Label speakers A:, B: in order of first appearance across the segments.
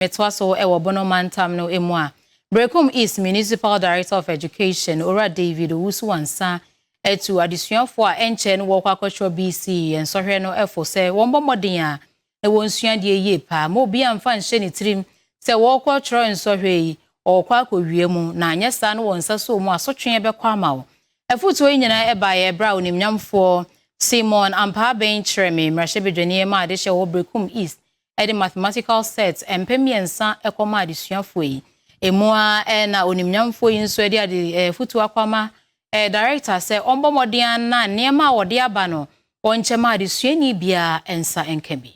A: metoa so wɔ Bono mantam no mu a, Berekum East Municipal Director of Education, Owura David Owusu-Ansah, atu adesuafoɔ a ɛnkyɛɛ no wɔrekɔ akɔtwerɛ BCE nsɔhwɛ no fo sɛ wɔmmɔ mmɔden a na wɔnsua adeɛ yie paa mma obiara mfa nhyɛ ne tirim sɛ wɔrekɔ twerɛ nsɔhwɛ yi wɔrekɔ akɔwie mu na anyɛ saa no wɔn nsa soo mu asotweɛ bɛkɔ ama wo. Afotuo yi nyinaa baeɛ berɛ a onimnyamfoɔ Simon Ampaa-Aben kyerɛɛ me mmarahyɛbadwani maa adehyɛ wɔ Berekum East de mathematical set mpɛ mmiɛnsa kɔmaa adesuafoɔ yi. Emu ara na onimnyamfoɔ yi nso de ade afotuo akɔama Director sɛ ɔmmɔ mmɔden ara na nneɛma a wɔde aba no wɔnkyɛ ma adesuani biara nsa nka bi.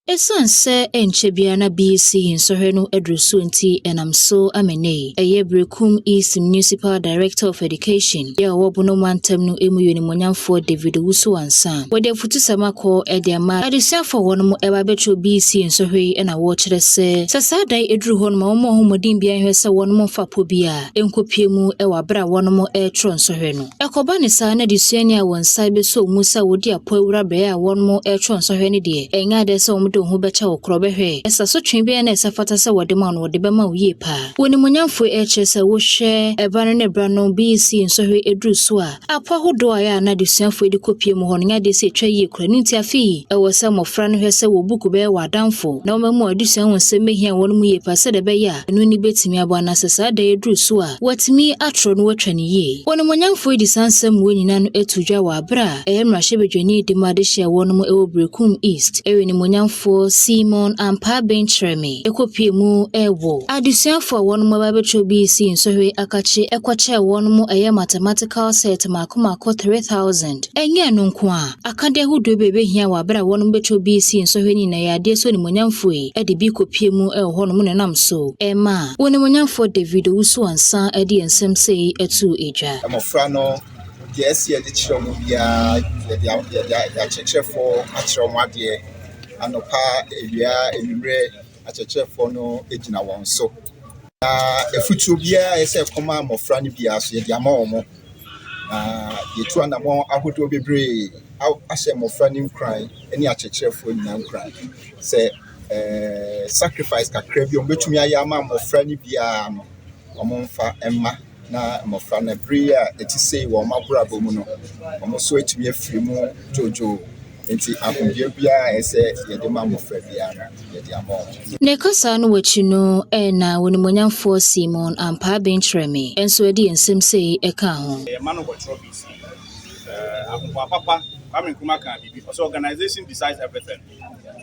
A: Esiane
B: sɛ ɛnkyɛ biara na BEC yi nsɔhwɛ no aduru so nti, ɛnam so ama nnɛ yi ɛyɛ Berekum East Municipal Director of Education, yɛ a ɔwɔ Bono mantam no mu yɛ onimonyamfoɔ David Owusu-Ansah. wɔde afutusɛm akɔ de ama adesuafo a wɔn ba bɛkyerɛw BC nsɔhwɛ yi na wɔkyerɛ sɛ, sɛ saa da yi duru hɔ no ma wɔn mmɔ ho mmɔden biara nhwɛ sɛ wɔn mfa po bi a ɛnkopue mu wɔ abere a wɔn rekyerɛw nsɔhwɛ no. Ɛkɔba ne saa na adesuani a wɔn nsa bɛsɔ mu sɛ wɔdi apo awura bere a wɔn rekyerɛw nsɔhwɛ no deɛ, ɛnyɛ ade sɛ wɔde wɔn ho bɛkyɛ wo korɔ bɛhwɛ sɛ asotwe bɛn na ɛsɛ fata sɛ wɔde ma no wɔde bɛma wo yie paa. Wɔ animuonyamfo ɛrekyerɛ sɛ wohwɛ ɛba no ne bra no BC nsɔhwɛ duru so a, Apɔ ahodoɔ a ɛyɛ a na adesuafoɔ yi de kɔpue mu hɔ no nyɛ adeɛ sɛ ɛtwa yie koraa. Ɛno nti afei, ɛwɔ sɛ mmɔfra no hwɛ sɛ wɔn buku bɛyɛ wɔn adamfo, na wɔn amu adesua ho nsɛm bɛhia wɔn mu yie paa sɛdeɛ ɛbɛyɛ a ɛno ani bɛtumi abɔ, anaa sɛ saa da yi aduru so a, wɔatumi atorɔ na wɔatwa no yie. Onimuonyamfoɔ yi de saa nsɛmmoa nyinaa no to dwa wɔ berɛ a ɛyɛ mmarahyɛbadwani de ma adehyeɛ a ɛwɔ no mu wɔ Berekum East. Onimuonyamfoɔ Simon Ampaa Benkyerɛme. ɛkɔpue mu ɛɛwo. Adesuafoɔ a wɔnom aba abɛtwerɛ bi sii nsɔhwɛ yi akakye ɛkɔkyɛɛ wɔnom ɛyɛ mathematical set mako mako 3000. Ɛnyɛ ɛno nko ara, akadeɛ ahodoɔ bi a ɛbɛhia wɔ aberɛ a wɔnom bɛtwerɛ bi sii nsɔhwɛ no nyinaa yɛ adeɛ so animuonyamfoɔ yi ɛde bi kɔpue mu ɛwɔ hɔnom na ɛnam so ɛɛma Onimuonyamfoɔ David Owusu-Ansah ɛde nsɛm sei ɛtoo edwa. Mmɔfra no
C: Gɛɛse a yɛde kyerɛ wɔn biara, yɛde a yɛde a akyerɛkyerɛfoɔ akyerɛ wɔn adeɛ. Anɔpa, awia, anwummerɛ, akyerɛkyerɛfoɔ no gyina wɔn so. Na afutuo biara a ɛsɛ sɛ ɛkɔma mmɔfra no biara nso, yɛde ama wɔn. Na yɛatu anammɔn ahodoɔ bebree a ahyɛ mmɔfra no nkuran ne akyerɛkyerɛfoɔ nyinaa nkuran sɛ ɛɛ sacrifice kakra bi a wɔbɛtumi ayɛ ama mmɔfra no biara no, wɔmfa mma. na mmɔfra no, bere yi a ɛte sei wɔ wɔn abrabɔ mu no, wɔn nso atumi afiri mu dwoodwoo. Enti ahodwira biara a ɛsɛ yɛde ma mmɔfra biara no, yɛde ama wɔn. Ne kasa no
B: akyi no na Onimuonyamfoɔ Simon ampaa aben kyerɛɛ me, nso ɛde yɛn nsɛm sei ɛkaa ho. Yɛn ma no wɔ
D: twerɛbins mu. Ahoboa papa, Kwame Nkrumah kaa biribi, ɔse, Organization decides everything.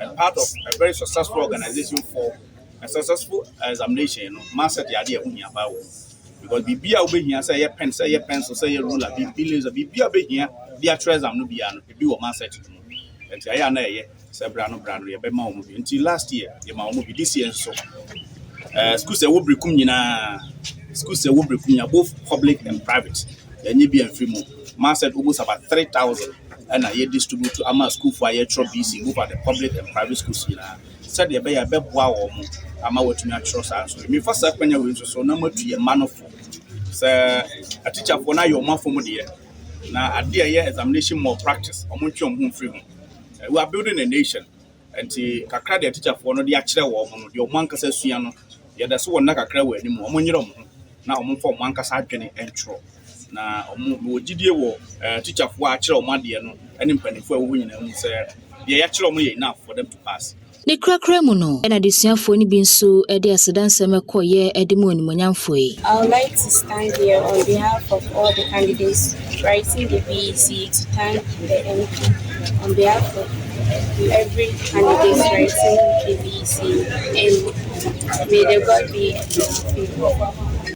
D: And part of a very successful organization for. a successful examination no ma sɛ de ade a ɛho hia paa wɔ because biribi a wobɛhia sɛ ɛyɛ pen sɛ ɛyɛ pencil sɛ ɛyɛ ruler biribi laser biribi a wobɛhia de atwerɛ exam no biara no ebi wɔ mindset no mu nti ayɛ a na ɛyɛ sɛ bra no bra no yɛbɛma wɔn bi nti last year yɛma wɔn bi this year nso ɛɛ eh, schools ɛwɔ birikum nyinaa schools ɛwɔ birikum nyinaa both public and private yɛnye bi amfiri mu mindset almost about three thousand ɛna yɛ distribute ama schoolfoɔ a yɛtwerɛ bc both at the public and private schools nyinaa. sɛdeɛ ɛbɛyɛ a ɛbɛboa wɔn ama wɔatumi atwerɛ saa nso mefa saa kwanya wei nso so na moatu yɛ mma no fo sɛ atikyafoɔ no ayɛ wɔn afɔ mu deɛ na adeɛ a ɛyɛ examination more practice wɔn ntwe wɔn ho mfiri ho eh, we are building a nation nti kakra deɛ atikyafoɔ no de akyerɛ wɔn no deɛ wɔn ankasa sua no yɛda so wɔn nna kakra wɔ anim wɔn nyerɛ wɔn ho na wɔn mfa wɔn ankasa adwene ntwerɛ Na wɔwɔ gyidie wɔ tikyafoɔ a akyerɛ wɔn adeɛ no ne mpanimfoɔ a ɛwɔ hɔ nyinaa mu sɛ deɛ yɛakyerɛ wɔn yɛ enough for them to pass. Ne korakora mu
B: no na adesuafoɔ no bi nso de aseda nsɛm kɔeɛ de mu animuonyam foe. I would like to stand
E: here on behalf of all the candidates writing the BEC to thank the MP on behalf of every candidate writing the BEC and may the God be with you.